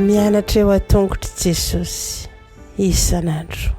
Mianatra eo an-tongotr'i Jesosy isan'andro.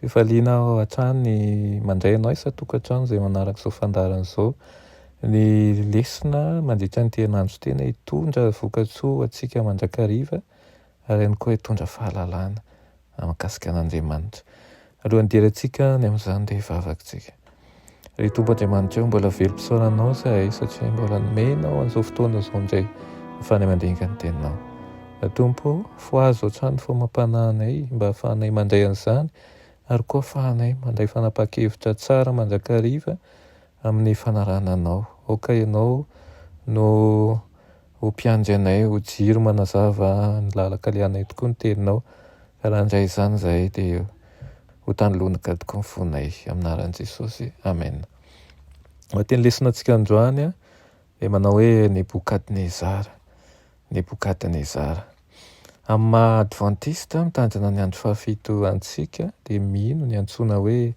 Fifaliana aho hatrany ny mandray anao isan-tokantrano izay manaraka izao fandaharana izao. Ny lesona mandritra ny herinandro tena hitondra vokatsoa ho antsika mandrakariva ary ihany koa hitondra fahalalana mahakasika an'Andriamanitra. Alohan'ny hidirantsika any amin'izany dia hivavaka isika. Ry Tompo Andriamanitra eo, mbola very mpisaona Anao izahay satria mbola nomenao an'izao fotoana izao indray hafahana mandinika ny Teninao. Ry Tompo, fohazo hatrany ny famam-panahinay mba hahafahanay mandray an'izany ary koa hahafahanay mandray fanapahan-kevitra tsara mandrakariva amin'ny fanarahana Anao. Aoka Ianao no ho mpiandry anay, ho jiro manazava ny lalan-kalehanay tokoa ny Teninao, ka raha handray izany izahay dia ho tany lonika tokoa ny fonay, amin'ny anaran'i Jesosy, amena. Ny teny lesonan-tsika androany dia manao hoe Nebokadnezara, Nebokadnezara. Amin'ny maha Advantista mitandrina ny andro fahafito antsika dia mino ny antsoina hoe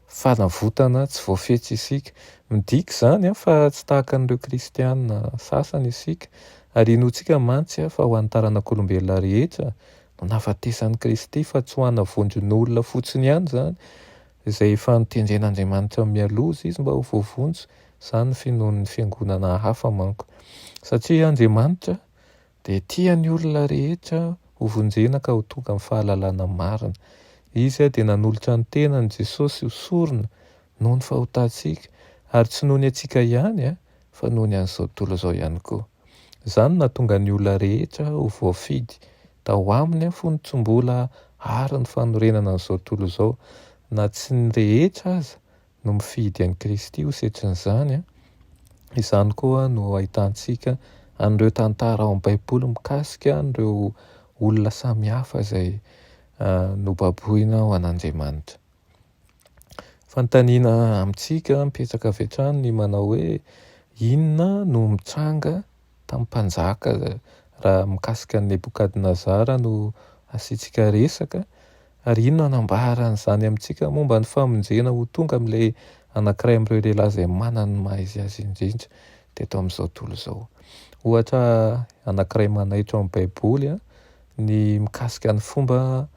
fanavotana tsy voafetra isika. Midika izany fa tsy tahaka an'ireo kristiana sasany isika, ary inoantsika mantsy fa ho an'ny taranak'olombelona rehetra no nahafatesan'i Kristy fa tsy ho ana vondron'olona fotsiny ihany izany izay efa notendren'Andriamanitra mialoha izy izy mba ho voavonjy, izany ny finoan'ny fiangonana hafa manko satria Andriamanitra Dia tia ny olona rehetra ho vonjena ka ho tonga amin'ny fahalalana marina. Izy dia nanolotra ny tenany, Jesosy, ho sorona noho ny fahotantsika, ary tsy noho ny antsika ihany fa noho ny an'izao tontolo izao ihany koa. Izany no nahatonga ny olona rehetra ho voafidy tao Aminy fony tsy mbola ary ny fanorenana an'izao tontolo izao, na tsy ny rehetra aza no mifidy an'i Kristy ho setrin'izany, izany koa no ahitantsika an'ireo tantara ao amin'ny Baiboly mikasika an'ireo olona samihafa izay nobaboina ho an'Andriamanitra. Fanontaniana amintsika mipetraka avy hatrany ny manao hoe, Inona no mitranga tamin'ny mpanjaka raha mikasika an'i Nebokadnezara no asiantsika resaka ary iny no hanambara an'izany amintsika momba ny famonjena ho tonga amin'ilay anankiray amin'ireo lehilahy izay manana ny maha izy azy indrindra teto amin'izao tontolo izao. Ohatra anankiray manaitra ao amin'ny Baiboly ny mikasika ny fomba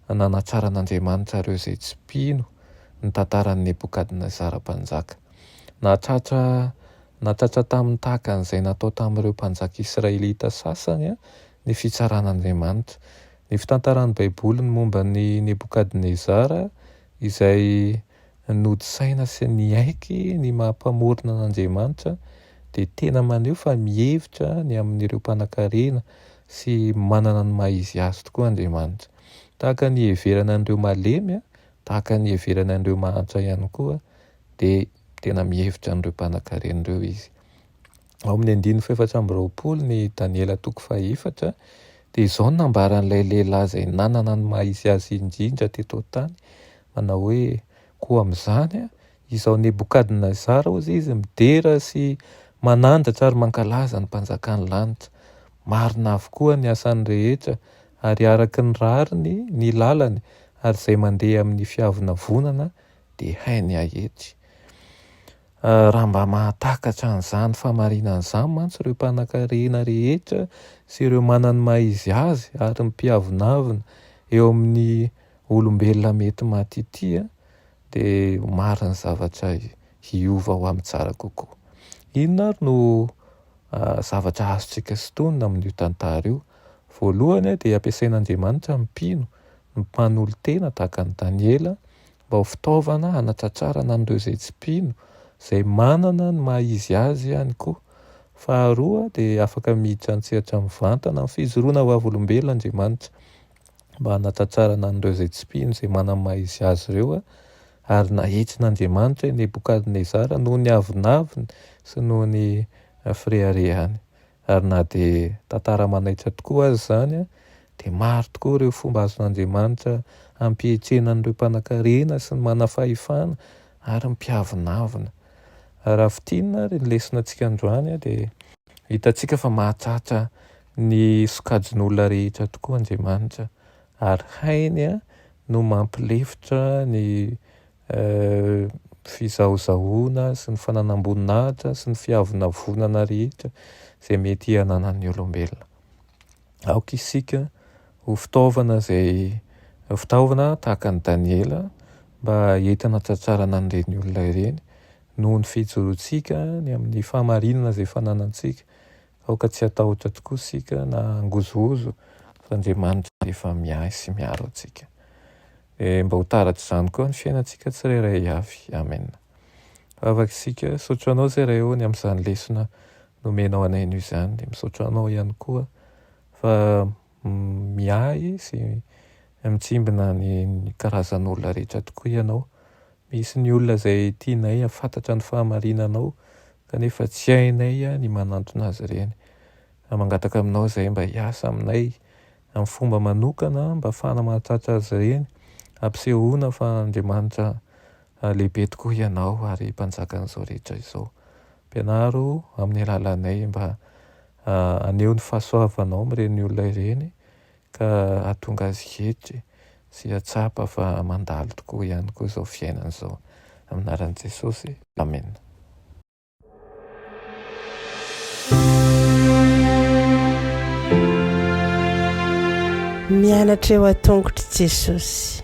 nanatsaran'Andriamanitra ireo izay tsy mpino ny tantaran'i Nebokadnezara mpanjaka. Nahatratra Natsatsa taminy tahaka an'izay natao tamin'ireo mpanjaka israelita sasany ny fitsaran'Andriamanitra. Ny fitantaran'ny Baiboly ny momba an'i Nebokadnezara izay nody saina sy niaiky ny maha-Mpamorona an'Andriamanitra dia tena maneho fa mihevitra ny amin'ireo mpanankarena sy manana ny maha-izy azy tokoa Andriamanitra. Tahaka ny iheverana an'ireo malemy, tahaka ny iheverana an'ireo mahantra ihany koa dia tena mihevitra an'ireo mpanankarena ireo izy. Ao amin'ny andininy fahefatra amby roapolo ny Daniela toko fahefatra dia izao no nambaran'ilay lehilahy izay nanana ny maha izy azy indrindra teto an-tany, manao hoe koa amin'izany a, izao Nebokadnezara hozy izy midera sy manandratra ary mankalaza ny mpanjakan'ny lanitra, marina avokoa ny asany rehetra ary araka ny rariny ny lalany ary izay mandeha amin'ny fiavonavonana dia hay ny ahetsy. Raha mba mahatakatra an'izany famarinana izany mantsy ireo mpanankarena rehetra sy ireo manan' ny maha izy azy ary ny mpiavonavona eo amin'ny olombelona mety maty ity dia ho maro ny zavatra hiova ho amin'ny tsara kokoa. Inona ary no zavatra azontsika sintonina amin'io tantara io? Voalohany dia ampiasain'Andriamanitra ny mpino, ny mpanolo-tena tahaka an'i Daniela mba ho fitaovana hanatratrarana an'ireo izay tsy mpino izay manana ny maha izy azy ihany koa. Faharoa dia afaka miditra an-tsehatra mivantana amin'ny fijoroana vavolombelona Andriamanitra mba hanatratrarana an'ireo izay tsy mpino izay manana ny maha izy azy ireo ary nahitsin'Andriamanitra i Nebokadnezara noho ny avonavony sy noho ny fireharehany. Ary na dia tantara manaitra tokoa aza izany, dia maro tokoa ireo fomba azon'Andriamanitra hampihetsehana an'ireo mpanankarena sy ny manam-pahefana ary ny mpiavonavona. Raha fintinina ary ny leson-antsika androany, dia hitantsika fa mahatratra ny sokajin'olona rehetra tokoa Andriamanitra, ary hainy no mampilefitra ny ny fizahozahoana sy ny fananam-boninahitra sy ny fiavonavonana rehetra izay mety hananan'ny olombelona. Aoka isika ho fitaovana izay fitaovana tahaka an'i Daniela mba entina hahatratrarana an'ireny olona ireny noho ny fijorontsika ny amin'ny fahamarinana izay fananantsika Aoka tsy hatahotra tokoa isika na hangozohozo fa Andriamanitra dia efa miahy sy miaro antsika. Dia mba ho taratra izany koa ny fiainantsika tsirairay avy. Amen. Vavaka isika, misaotra Anao Zay Ray ô ny amin'izany lesona nomenao anay anio izany. Dia misaotra Anao ihany koa fa miahy sy mitsimbina ny karazan'olona rehetra tokoa ianao. Misy ny olona izay tianay hahafantatra ny fahamarinanao kanefa tsy hainay ny manantona azy ireny. Mangataka aminao izay mba hiasa aminay amin'ny fomba manokana mba hahafahana mahatratra azy ireny, hampisehoana fa Andriamanitra lehibe tokoa ianao ary Mpanjakan'izao rehetra izao. Mpianaro amin'ny alalanay mba haneho ny fahasoavanao amin'ireny olona ireny ka hahatonga azy hietry sy hahatsapa fa mandalo tokoa ihany koa izao fiainana izao. Amin'ny anaran'i Jesosy. Amena. Mianatra eo an-tongotr'i Jesosy.